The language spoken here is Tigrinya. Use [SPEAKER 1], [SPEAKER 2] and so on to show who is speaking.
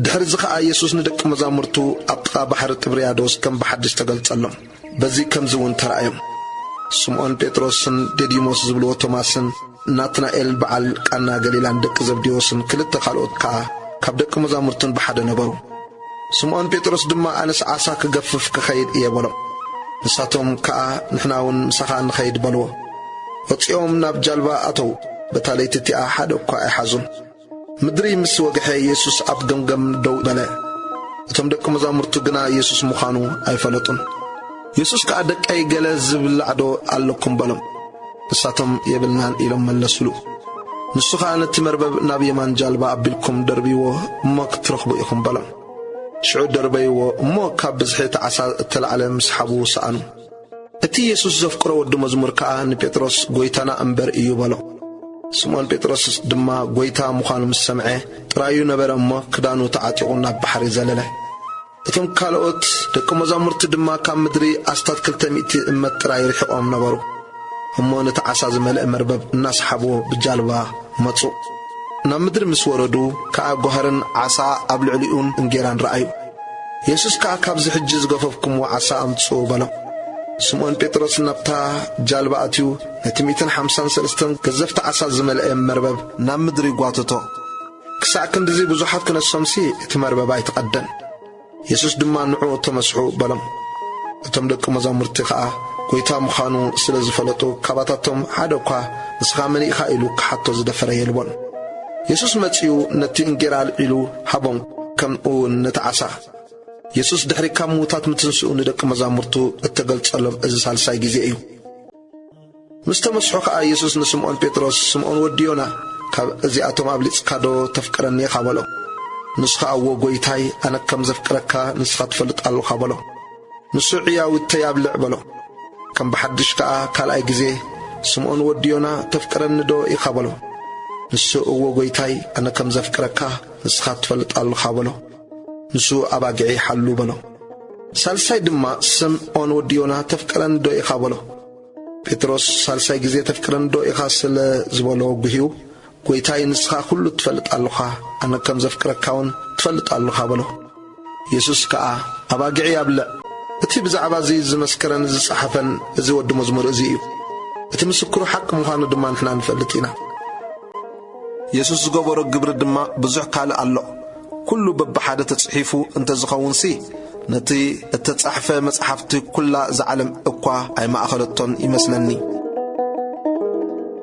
[SPEAKER 1] ድሕርዚ ኸኣ የሱስ ንደቂ መዛሙርቱ ኣብ ጥቓ ባሕሪ ጥብርያዶስ ከም ብሓድሽ ተገልጸሎም። በዚ ከምዚ እውን ተራእዮም። ስምዖን ጴጥሮስን ዴዲሞስ ዝብልዎ ቶማስን ናትናኤልን በዓል ቃና ገሊላን ደቂ ዘብዴዎስን ክልተ ካልኦት ከኣ ካብ ደቂ መዛሙርቱን ብሓደ ነበሩ። ስምዖን ጴጥሮስ ድማ ኣነስ ዓሳ ክገፍፍ ክኸይድ እየ በሎ። ንሳቶም ከኣ ንሕና እውን ምሳኻ ንኸይድ በልዎ። ወጺኦም ናብ ጃልባ ኣተዉ፣ በታ ለይቲ እቲኣ ሓደ እኳ ኣይሓዙን። ምድሪ ምስ ወግሐ የሱስ ኣብ ገምገም ደው በለ። እቶም ደቂ መዛሙርቱ ግና የሱስ ምዃኑ ኣይፈለጡን። የሱስ ከኣ ደቀይ ገለ ዝብላዕዶ ኣለኩም በሎም። ንሳቶም የብልናን ኢሎም መለሱሉ። ንሱ ኸኣ ነቲ መርበብ ናብ የማን ጃልባ ኣቢልኩም ደርብይዎ እሞ ክትረኽቡ ኢኹም በሎም። ሽዑ ደርበይዎ እሞ ካብ ብዝሒ እቲ ዓሳ እተላዕለ ምስሓቡ ሰኣኑ። እቲ የሱስ ዘፍቅሮ ወዲ መዝሙር ከኣ ንጴጥሮስ ጐይታና እምበር እዩ በሎ። ስምዖን ጴጥሮስ ድማ ጐይታ ምዃኑ ምስ ሰምዐ ጥራዩ ነበረ እሞ ክዳኑ ተዓጢቑ ናብ ባሕሪ ዘለለ። እቶም ካልኦት ደቂ መዛሙርቲ ድማ ካብ ምድሪ ኣስታት ክልተ ሚእቲ እመት ጥራይ ርሒቖም ነበሩ እሞ ነቲ ዓሳ ዝመልእ መርበብ እናሰሓብዎ ብጃልባ መጹ። ናብ ምድሪ ምስ ወረዱ ከኣ ጓህርን ዓሳ ኣብ ልዕሊኡን እንጌራን ረኣዩ። የሱስ ከኣ ካብዚ ሕጂ ዝገፈፍኩምዎ ዓሳ ኣምጽኡ በሎም። ስምኦን ጴጥሮስ ናብታ ጃልባ ኣትዩ ነቲ ሚእትን ሓምሳን ሰለስተን ገዘፍቲ ዓሳ ዝመልኤ መርበብ ናብ ምድሪ ጓተቶ። ክሳዕ ክንድዚ ብዙሓት ክነሶምሲ እቲ መርበብ ኣይተቐደን። የሱስ ድማ ንዕኡ ተመስሑ በሎም። እቶም ደቂ መዛሙርቲ ኸኣ ጐይታ ምዃኑ ስለ ዝፈለጡ፣ ካባታቶም ሓደ እኳ ንስኻ መን ኢኻ ኢሉ ክሓቶ ዝደፈረ የልቦን። የሱስ መጺኡ ነቲ እንጌራ ኣልዒሉ ሃቦም፣ ከምኡውን ነቲ ዓሳ። የሱስ ድሕሪ ካብ ምዉታት ምትንስኡ ንደቂ መዛሙርቱ እተገልጸሎም እዚ ሳልሳይ ግዜ እዩ። ምስ ተመስሑ ከኣ የሱስ ንስምኦን ጴጥሮስ፣ ስምኦን ወዲ ዮና፣ ካብ እዚኣቶም ኣብሊጽካዶ ተፍቅረኒ ኢኻ? በሎ። ንሱ ኸኣ እዎ ጐይታይ፣ ኣነ ከም ዘፍቅረካ ንስኻ ትፈልጥ ኣሎኻ በሎ። ንሱ ዕያውተይ ኣብልዕ በሎ። ከም ብሓድሽ ከኣ ካልኣይ ግዜ፣ ስምኦን ወዲ ዮና፣ ተፍቅረኒዶ ኢኻ? በሎ። ንሱ እዎ ጐይታይ፣ ኣነ ከም ዘፍቅረካ ንስኻ ትፈልጥ ኣሎኻ በሎ። ንሱ ኣባጊዕይ ሓሉ በሎ። ሳልሳይ ድማ፣ ስምኦን ወዲ ዮና፣ ተፍቅረኒዶ ኢኻ? በሎ። ጴጥሮስ ሳልሳይ ግዜ ተፍቅረንዶ ኢኻ ስለ ዝበሎ ጉሂዩ ጐይታይ ንስኻ ኵሉ ትፈልጥ ኣሎኻ፣ ኣነ ከም ዘፍቅረካውን ትፈልጥ ኣሎኻ በሎ። የሱስ ከኣ ኣባጊዕይ ኣብልዕ። እቲ ብዛዕባ እዚ ዝመስከረን ዝጸሓፈን እዚ ወዲ መዝሙር እዚ እዩ። እቲ ምስክሩ ሓቂ ምዃኑ ድማ ንሕና ንፈልጥ ኢና። የሱስ ዝገበሮ ግብሪ ድማ ብዙሕ ካልእ ኣሎ። ኵሉ በብሓደ ተጽሒፉ እንተ ዝኸውንሲ፣ ነቲ እተጻሕፈ መጽሓፍቲ ኵላ እዛ ዓለም እኳ ኣይማእከለቶን ይመስለኒ።